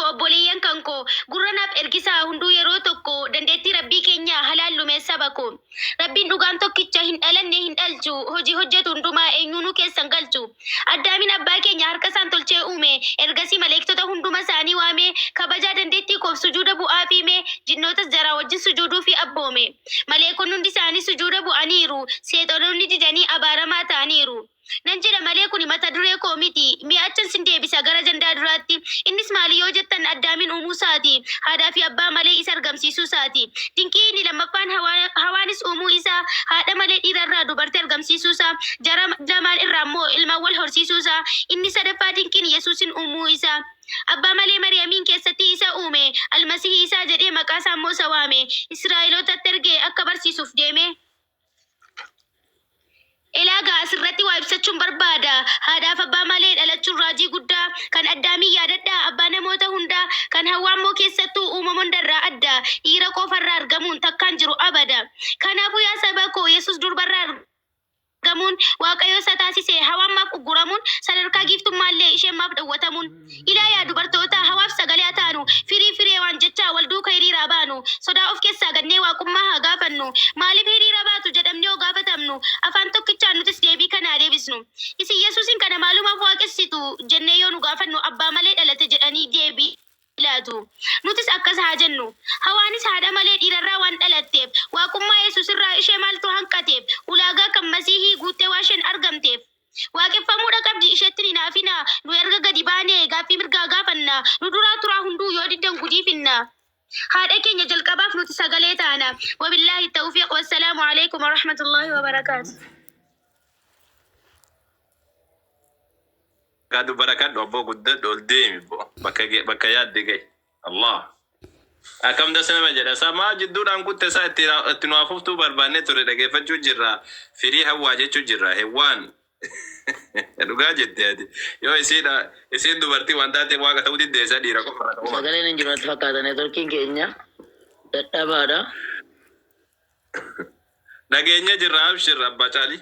Obboleeyyan kan koo gurra naaf ergisaa hunduu yeroo tokko dandeettii Rabbii keenyaa halaallu mee saba koo Rabbiin dhugaan tokkicha hin dhalanne hin dhalchu hojii hojjatu hundumaa eenyuunuu keessa hin galchu Addaamiin abbaa keenya harka isaan tolchee uume ergasii maleektota hunduma isaanii waamee kabajaa dandeettii koof sujuuda bu'aafii mee jinnootas jaraa wajjin sujuuduufii abboome maleekonni hundi isaanii sujuuda bu'aniiru seexonoonni didanii abaaramaa ta'aniiru Nan jedha malee kuni mata duree koo miti. Mee achan sin deebisa gara ajandaa duraatti. Innis maali yoo jettan Addaamiin uumuu isaati. Haadhaa fi abbaa malee isa argamsiisuu isaati. Dinqii inni lammaffaan Hawaa, Hawaanis uumuu isaa, haadha malee dhiira irraa dubartii argamsiisuu isaa, jara lamaan irraa immoo ilmaan wal horsiisuu isaa. Inni sadaffaa dinqiin Yesuusin uumuu isaa. Abbaa malee Mariyamiin keessatti isa uume. Almasihii isaa jedhee maqaa isaa immoo isa waame. Israa'elootatti ergee akka barsiisuuf deeme. Ilaagaa asirratti waa ibsachuun barbaada. Haadhaaf abbaa malee dhalachuun raajii guddaa. Kan Addaamiin yaadadhaa, abbaa namoota hundaa. Kan Hawwaa immoo keessattuu uumama hundarraa adda. Dhiira qofarraa argamuun takkaan jiru abada. Kanaafuu yaa saba koo Yesuus durbarraa argamuun Waaqayyo isa taasise. Hawaan maaf ugguramuun? Sadarkaa giiftummaallee isheen maaf dhowwatamuun? Ilaa yaa dubartootaa hawaaf sagalee haa taanu, firii fireewaan jechaa wal duuka hiriiraa baanu, sodaa of keessaa gannee Waaqummaa haa gaafannu, maaliif hiriira baatu jedhamnee yoo gaafatamnu afaan tokkichaan nutis deebii kana haa deebisnu. Isin Yesuusiin kana maalumaaf waaqessitu? jennee yoo nu gaafannu abbaa malee dhalate jedhanii deebii laatu. Nutis akkas haa jennu. Hawaanis haadha malee dhiirarraa waan dhalatteef, Waaqummaa Yesuusirraa ishee maaltu hanqateef? Ulaagaa kan Masiihii guuttee waasheen argamteef. Waaqeffamuudha qabdi isheettin hinaafina Nuyi erga gadi baane gaaffii mirgaa gaafanna Nu duraa turaa hunduu yoo diddan gudiifinna Haadha keenya jalqabaaf nuti sagalee taana Wabillaahi Tawfiiq Wassalaamu Aleeykum Warahmatullaahi Wabarakaatuh. Gaadu barakadhu abboo guddadhu ol deemi boo bakka ge bakka yaadde gahi. Allah akkam das nama jedha samaa jidduudhaan kutte isaa itti na- itti nu afuftuu barbaannee turre dhageeffachuu jirra firii hawwaa jechuu jirra hewwaan dhugaa jette ati yoo isiidha isiin dubartii waan taateef waaqa ta'uu diddee isa dhiira qofa irraa ta'uu baate. Sagaleen hin jiru natti fakkaata neetworkiin keenya dadhabaadha. dhageenya jirra abshirra abbaa caalii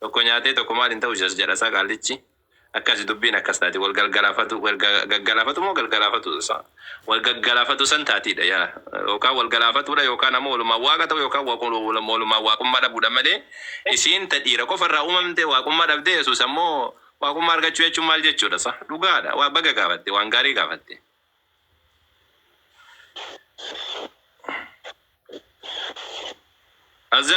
Tokko nyaatee tokko maal hin ta'u jas jedha sa qaallichi akkasi dubbiin akkas taati wal galgalaafatu wal gaggalaafatu moo galgalaafatu sa wal gaggalaafatu san taatiidha yaa yookaan wal galaafatuudha yookaan ammoo walumaan waaqa ta'u yookaan walumaan waaqummaa dhabuudha malee isiin ta dhiira qofa irraa uumamte waaqummaa dhabdee yesuus ammoo waaqummaa argachuu jechuun maal jechuudha sa dhugaadha waa baga gaafatte waan gaarii gaafatte. Azza